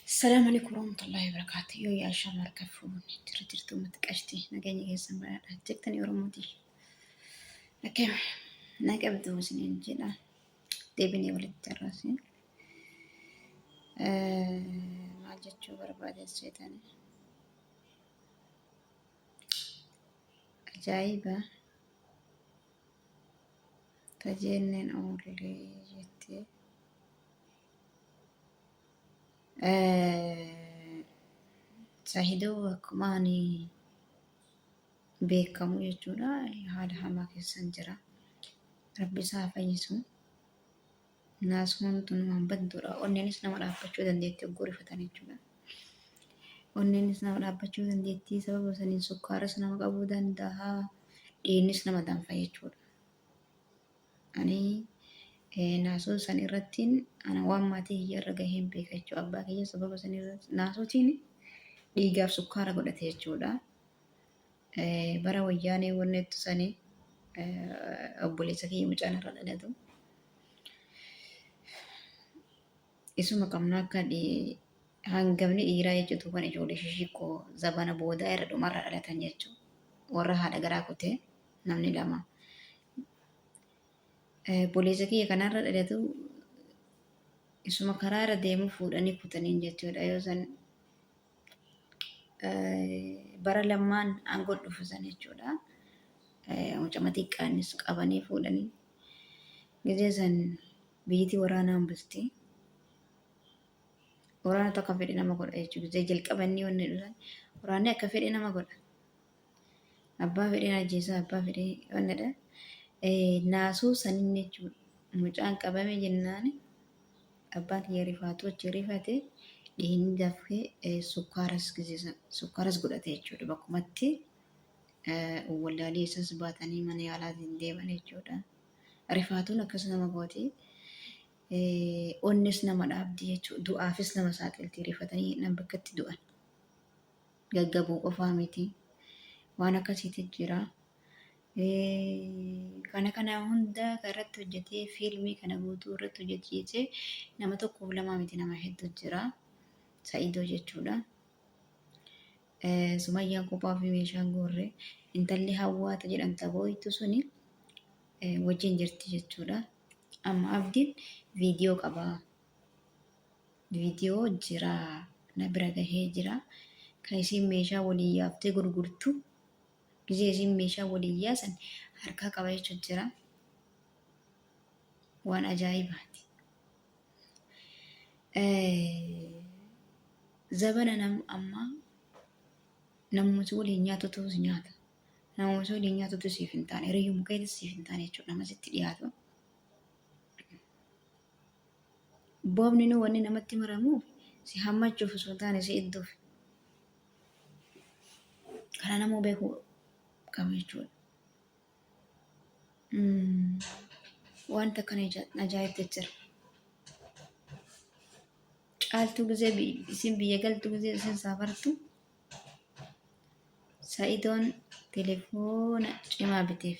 Assalamu alaikum warahmatullahi wabarakatuh. Yoo yaa shaamar kan fuudhun jira jirtu uummata qashti nageenya keessan badhaadha jettanii Oromooti. Akka na qabdu isiniin jedha deebinee walitti carraasee maal jechuu barbaade seetanii. Ajaa'iba! Tajeenneen oollee jettee. Sahidoo akkuma ani beekamu jechuudha haala hamaa keessan jira. Rabbi isaa fayyisu. Naasnoon tun waan badduudha. Onneenis nama dhaabbachuu dandeetti hogguu rifatan jechuudha. Onneenis nama dhaabbachuu dandeetti sababa saniin sukkaaras nama qabuu danda'a. Dhiignis nama danfa jechuudha. Ani naasoo san irrattiin ana waan maatii kiyya irra gaheen beeka jechuudha. Abbaa kiyya sababa san irratti naasootiin dhiigaaf sukkaara godhate jechuudha. Bara wayyaanee wannettu sani obboleessa kiyya mucaan irra dhalatu. Isuma qabna akka hangamni dhiiraa jechuutu kan ijoollee shishikkoo zabana boodaa irra dhumarra dhalatan jechuudha. Warra haadha garaa kutee namni lama. Obboleessa kiyya kanarra dhalatu isuma karaa irra deemu fuudhanii kutaniin jechuudha yoo san bara lammaan aangoo dhufu san jechuudha. Mucama xiqqaanis qabanii fuudhanii gizee san biyyitii waraanaan bulti. Waraana tokko fedhe nama godha jechuudha. Gizee jalqabanii wanni dhulan waraanni akka fedhe nama godha. Abbaa fedheen ajjeesaa abbaa fedhee wannadha. Naasuu sanin jechuudha. Mucaan qabame jennaan abbaan kiyya rifaatuu achi rifate dhiigni dafee sukkaaras gisisan sukkaaras godhate jechuudha. Bakkumatti wallaalee isas baatanii mana yaalaatiin deeman jechuudha. Rifaatuun akkas nama gooti. Onnes nama dhaabdi jechuudha. Du'aafis nama saaxilti rifatanii hidhan bakkatti du'an. gaggabuu qofaa miti waan akkasiitu jira. Kana kana hunda irratti hojjetee fiilmii kana guutuu irratti hojjechiisee nama tokkoof lamaa miti nama hedduu jira. Sa'idoo jechuudha. Sumayyaan kophaa fi meeshaan goorre intalli hawwaata jedhamta booytu suni wajjin jirti jechuudha. Amma abdiin viidiyoo qabaa. Video jira na bira gahee jira kan isiin meeshaa waliin yaaftee gurgurtu gizee isiin meeshaa waliin yaasan harkaa qaba jechuun jira waan ajaa'ibaati. Zabana nam ammaa namoota waliin nyaatutu si nyaata. Namoota waliin nyaatutu siif hin taane hiriyuma keetis siif hin taane jechuudha nama sitti dhiyaatu. Boobni nu wanni namatti maramuuf si hammachuuf osoo hin taane si idduuf. Kana namuu beekuu qaba jechuudha. Wanta akkana ajaa'ibtu jira. Caaltuu gizee isin biyya galtu gizee isin saafartu. Sa'idoon telefoona cimaa biteef.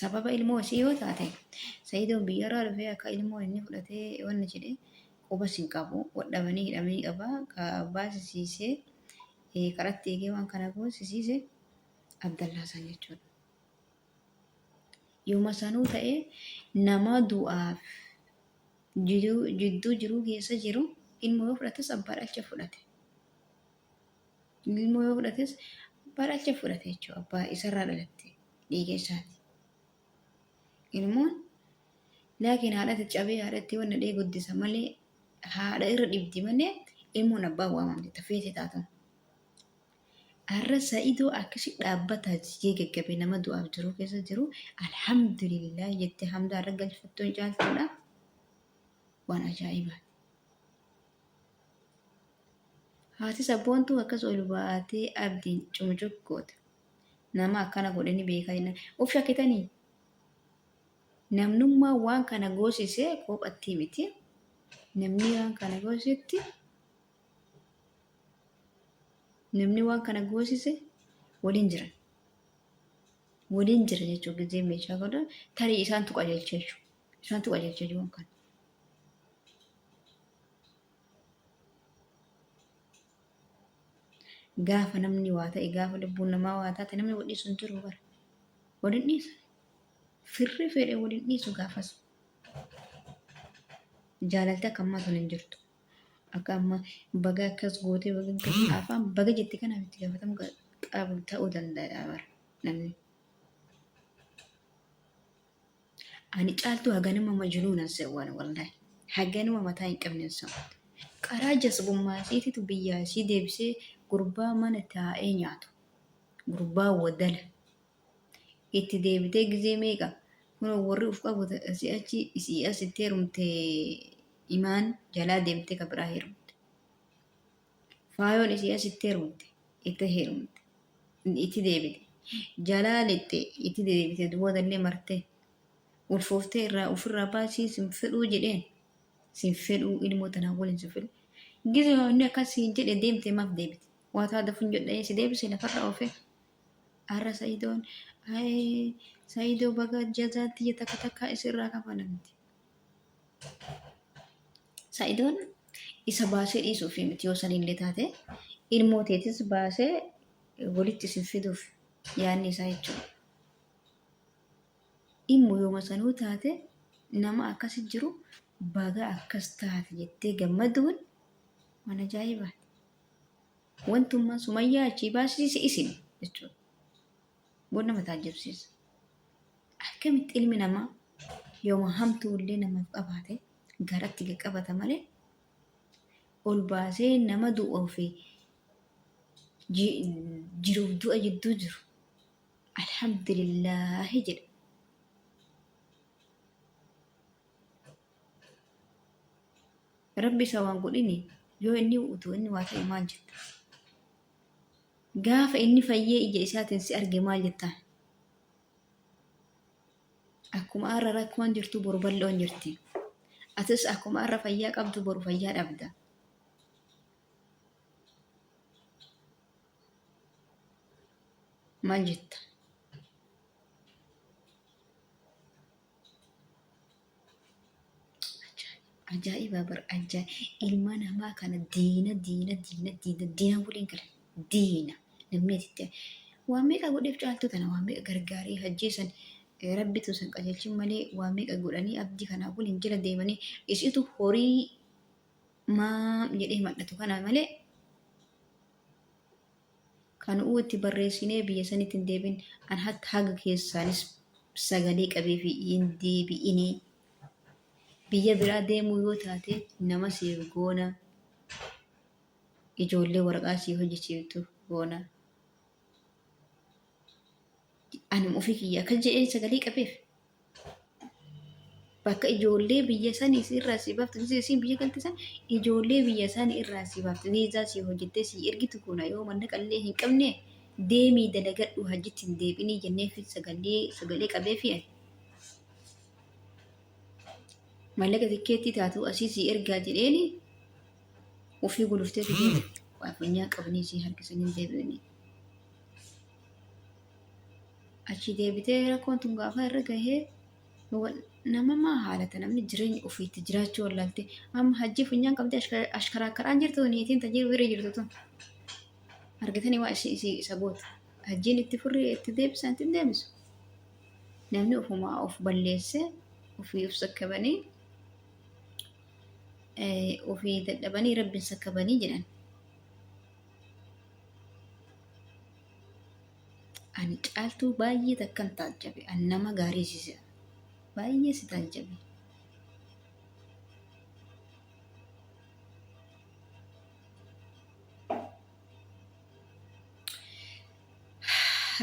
sababa ilmoo isii yoo taate sayidoon biyyarraa dhufee akka ilmoo inni fudhatee wanni jedhe qubas hin qabu wadhabanii hidhamanii qaba ka abbaa sisiisee eh, karatti eegee waan kana kun sisiise abdallaa san jechuudha yooma sanuu ta'ee nama du'aaf jiduu- jidduu jiruu keessa jiru ilmoo yoo fudhates abbaa dhalcha fudhate Inni immoo yoo fudhates abbaa dhalcha fudhate jechuudha. Abbaa isarraa dhalatte dhiiga isaati. Ilmoon laakiin haadhatti cabee haadhatti wanna dhee guddisa malee haadha irra dhibdi malee ilmoon abbaa waamamti tafeeti taatu. Har'a sa'idoo akkasi dhaabbataa jigee gaggabe nama du'aaf jiru keessa jiru alhamdulillah jettee hamdaa irra galfattuun caaltuudha. Waan ajaa'ibaati. Haati sabboontuu akkas ol baatee abdiin cumucuq goota. Nama akkana godhanii beekaa jennaan. Of shakkitanii? Namnummaan waan kana goosise kophattii miti. Namni waan kana goosisetti namni waan kana goosise waliin jiran. Waliin jira jechuun gizee meeshaa godhan tarii isaantu qajeelcha jechuudha. Isaantu qajeelcha jiruun kan. Gaafa namni waa ta'e gaafa lubbuun namaa waa taate namni wal dhiisu hin jiru bara. Wal hin dhiisu. Firri fedhe wal hin dhiisu gaafas. Jaalalti akka ammaa sun hin jirtu. Akka ammaa baga akkas gootee baga akkas afaan baga jette kanaaf itti gaafatamu qabu ta'uu danda'a bara namni. Ani caaltuu haganuma majnuunan sewwan wallahi. Haganuma mataa hin qabnen sewwan. Qaraa jasbummaa isiititu biyyaa isii deebisee gurbaa mana taa'ee nyaatu. Gurbaa wadala. Itti deebitee gizee meeqa kunoo warri uf qabu si achi isii asitti heerumte imaan jalaa deemtee ka biraa heerumte. Faayoon isii asitti heerumte, itti heerumte, itti deebite, jalaa lixxe, itti deebite, boodallee martee, ulfooftee irraa ofirraa baasii sin fedhuu jedheen. Sin fedhuu ilmoo tanaa waliin sin fedhu. Gize inni akkas siin jedhe deemte maaf deebite? Waa taa dafuun jedhee si deebise lafarra oofee. Arra Sa'idoon ayii Sa'idoo baga jazaatti jetta takka takka isirraa kafalamti. Sa'idoon isa baasee dhiisuuf miti yoo sanillee taate ilmoo teetis baasee walitti isin fiduuf yaadni isaa jechuudha. Dhimmu yooma sanuu taate nama akkasi jiru baga akkas taate jettee gammaduun waan ajaa'ibaati. Wantummaan sumayyaa achii baasise isin jechuudha. Waan nama taajjabsiisu. Akkamitti ilmi namaa yooma hamtuu illee namaaf qabaate garatti qaqqabata malee ol baasee nama du'uu fi ji- jiruuf du'a jidduu jiru alhamdulillaahi jedha. Rabbi isa waan godhini yoo inni utuu inni waa ta'e maal jetta? Gaafa inni fayyee ija isaatiin si arge maal jettaan? Akkuma har'a rakkoon jirtu boru bal'oon jirti. Atis akkuma har'a fayyaa qabdu boru fayyaa dhabda. Maal jetta? Ajaa'iba bar ajaa'iba ilma namaa kana diina diina diina diina diina waliin gala diina namni asitti waan meeqa godheef caaltuu tana waan meeqa gargaaree hajjeesan rabbitu san qajeelchin malee waan meeqa godhanii abdii kanaa waliin jala deemanii isitu horii maam jedhee madhatu kanaa malee Kan nu'uu itti barreessinee biyya sanitti hin deebin, an hatta haga keessaanis sagalee qabee fi hin deebi'inii. Biyya biraa deemuu yoo taate nama siif goona, ijoollee waraqaa siif hojjechiiftu goona. Ani ofii kiyya akkas jedheen sagalee qabeef. Bakka ijoollee biyya sanii si irraa si baftu si siin biyya galti san ijoollee biyya sanii irraa si baftu viizaa si hojjettee si ergitu kuna yoo mallaqa illee hin qabne deemii dalagadhu hajjitti hin deebinii jennee fi sagalee sagalee qabee fi ani. Mallaqa tikkeettii taatu asii si ergaa jedheeni ofii guluftee fi deemte. Waa funyaa qabanii si harkisanii deebi'anii. Achii deebitee rakkoon tun gaafa irra gahee nama maa haalata namni jireenya ofiitti jiraachuu wallaalte amma hajjii funyaan qabdee ashkaraa karaan jirtu niitiin tajii bira jirtu tun argitanii waa ishee isii isa gootu hajjiin itti furrii itti deebisan itti deebisu namni ofumaa of balleesse ofii of sakkabanii ofii dadhabanii rabbiin sakkabanii jedhan Ani caaltuu baay'ee takkan taajjabe. Ani nama gaarii siisa. Baay'ee si taajjabe.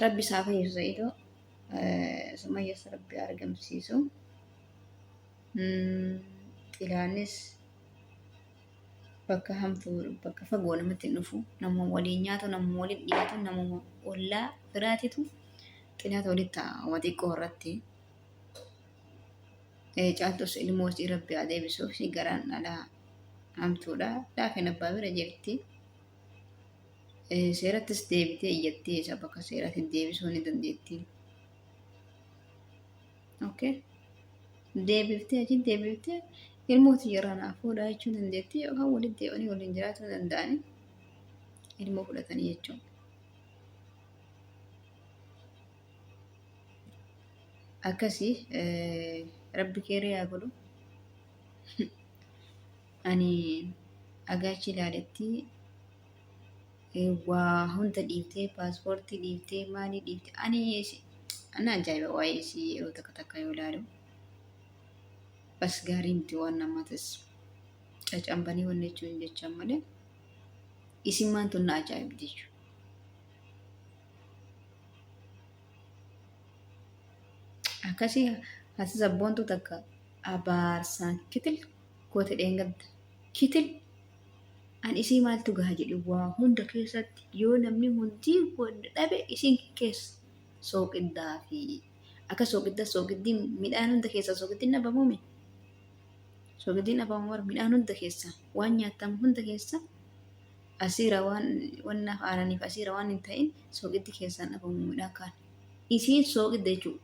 Rabbi isaa fayyisa Sa'idoo. Sumayyas Rabbi argamsiisu. Xilaanis bakka hamtuu bakka fagoo namatti hin dhufu namuma waliin nyaatu namuma waliin dhiyaatu namuma ollaa firaatitu xinaata walitti taa'ama xiqqoo irratti Eh, caaltus ilmoo isii rabbi haa deebisuuf ishii garaan dhalaa hamtuudha laafeen abbaa bira jirti Eh, seerattis deebitee iyyattee isa bakka seeraatti deebisuu ni dandeetti Okay. Deebiftee achi deebiftee ilmooti yeroo naaf fuudhaa jechuu dandeetti yookaan walitti deebi'anii waliin jiraachuu danda'anii ilmoo fudhatanii jechuudha. Akkasii eh, rabbi keeree haa godhu. Ani agaachi ilaaletti Waa hunda dhiiftee paaspoortii dhiiftee maalii dhiiftee ani ishee ana ajaa'iba waa'ee ishee yeroo takka takka yoo ilaalu bas gaarii miti waan namaatis cacambanii wanni jechuun jechaan malee isin maan tun na ajaa'iba jechuudha. Akkasii hasis abboontu takka abaarsaan kitil goote dheengadda kitil An isii maaltu gaha jedhe waa hunda keessatti yoo namni hundii wanna dhabe isiin kees sooqiddaa fi akka sooqidda sooqiddiin midhaan hunda keessaa sooqiddiin dhabamume sooqiddiin dhabamu bar midhaan hunda keessaa waan nyaatamu hunda keessaa asiira waan wannaaf aananiif asiira waan hin ta'in sooqiddi keessaan dhabamu midhaan kaan isiin sooqidda jechuudha.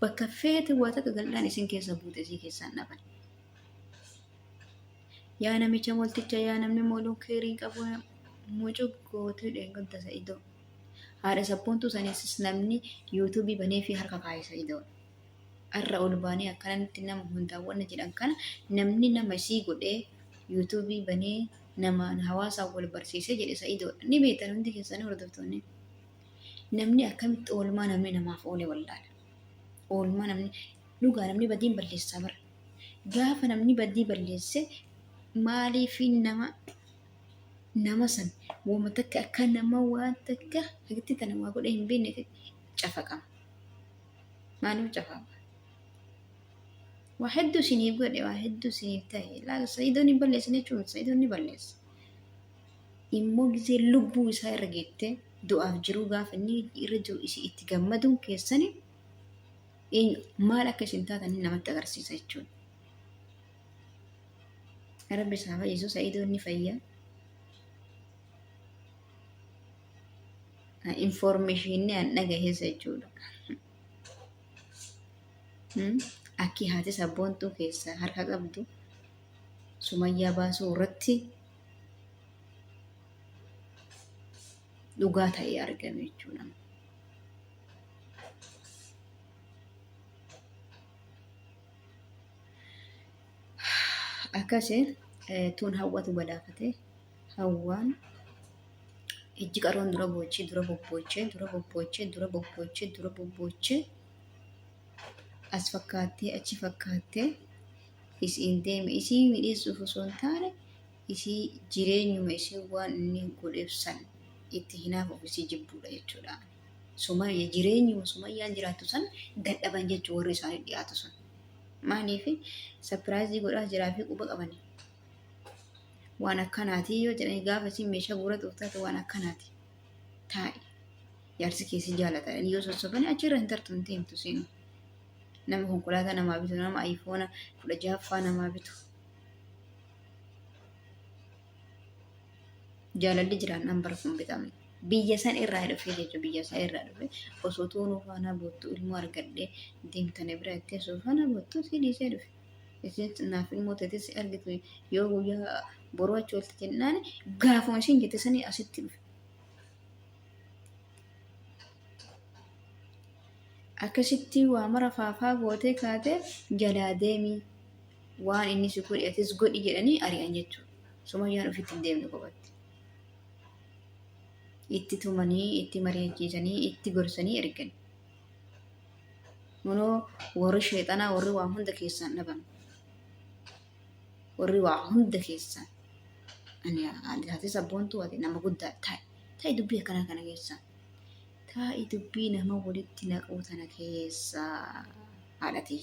Bakka feete waa takka gal'aan isiin keessa buute isii keessaan dhaban. Yaa namicha molticha yaa namni mooluu keerii qabu mucuq gootuu dheegumta sa'idoo. Haadha sabboontuu saniisis namni yuutuubii banee fi harka kaa'e sa'idoo. Har'a ol baanee akkanatti nama hundaa wanna jedhan kana namni nama isii godhee yuutuubii banee namaan hawaasaan wal barsiisee jedhe sa'idoo. Ni beektan hundi keessanii hordoftoonni. Namni akkamitti oolmaa namni namaaf oole wallaala. Oolmaa namni dhugaa namni badiin balleessaa bara. Gaafa namni badii balleesse maaliif nama nama san wama takka akka nama waan takka hagatti tana waa godhe hin beekne cafaqama. Maaliif cafaqama? Waa hedduu isiniif godhe waa hedduu isiniif ta'e laal sa'idoon hin balleessin jechuun sa'idoon ni balleessa. Immoo gisee lubbuu isaa irra geette du'aaf jiruu gaafa inni irra jiru itti gammaduun keessanii eenyu maal akka isin taatan inni namatti agarsiisa jechuudha. Rabbi isaa fayyisu sa'idoo inni fayya. Infoormeeshinii an dhagaheessa jechuudha. Hmm? Akki haati sabboontuu keessaa harka qabdu sumayyaa baasuu irratti dhugaa ta'ee argame jechuudha. akkasi tuun hawwatu balaafate hawwaan ijji qaroon dura boochee dura bobboochee dura bobboochee dura bobboochee dura bobboochee as fakkaattee achi fakkaattee isiin deeme isii midheessuuf osoo hin taane isii jireenyuma isii waan inni godheef san itti hinaaf ofisii jibbuudha jechuudha. Sumayya jireenyuma sumayyaan jiraattu san dadhaban jechuun warri isaanii dhiyaatu sun. Maaliif sapiraayizii godhaa jiraa fi quba qabani. Waan akkanaatii yoo jedhani gaafa isin meeshaa guura tuuftaate waan akkanaati. Taa'i. Jaarsi keessi jaalata. Yoo sossobani achirra hin tartu hin teemtu seenu. Nama konkolaataa namaa bitu nama ayifoona kudha jahaffaa namaa bitu. Jaalalli jiraannaan bara kun bitame. Biyya san irraa dhufee jechuun biyya isaa irraa dhufe osoo tuunuu faanaa boottuu ilmoo argadhee deemtanii bira itti osoo faanaa boottuu si dhiisee dhufe. Isin naaf ilmoo ta'e si argitu yoo guyyaa boruu achi oolti jennaan gaafuma isin jette sanii asitti dhufe. Akkasitti waa mara faafaa gootee kaatee jalaa deemii. waan inni si godhe atis godhi jedhanii ari'an jechuudha. Sumayyaan ofitti hin deemne qofatti. Itti tumanii, itti mari'achiisanii, itti gorsanii ergan. Kunoo warri sheexanaa warri waa hunda keessaan dhaban. Warri waa hunda keessaan. Ani haadhatis abboontuu ati nama guddaa ta'i. Ta'i dubbii akkanaa kana keessaa. Ta'i dubbii nama walitti naquu tana keessaa haadhatii.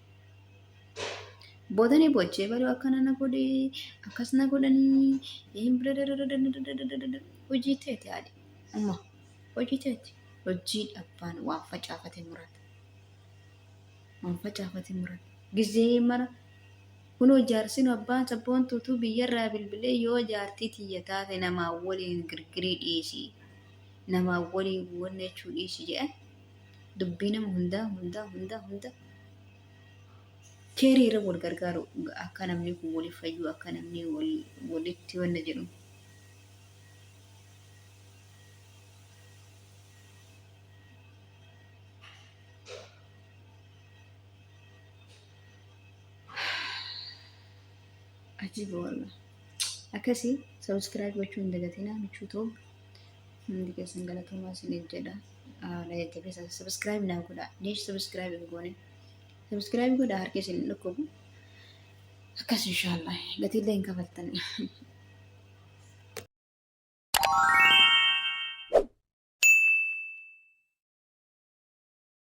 Booda ni boochee baruu akkana na godhe akkas na godhanii hin hojii teeti haadhi amma hojii teeti hojii dhabbaan waan facaafate murata waan facaafate murata gizee mara kunoo jaarsin abbaan sabboontuutu biyyarraa bilbilee yoo jaartii tiyya taate namaa waliin girgirii dhiisii namaa waliin wannachuu dhiisii jedhan dubbii nama hundaa hundaa hundaa hunda keerii irra wal gargaaru akka namni kun waliif fayyuu akka namni wal- walitti wanna jedhu ajiiba wallah akkasi sabiskiraayib gochuu hin dagatinaa michuu toob hundi keessan galatoomaa isiniif jedha na jajjabeessa sabiskiraayib naa godha deesh sabiskiraayib hin goone sabiskiraayib godha harki isin hin dhukkubu akkas inshaallah gatiillee hin kafaltan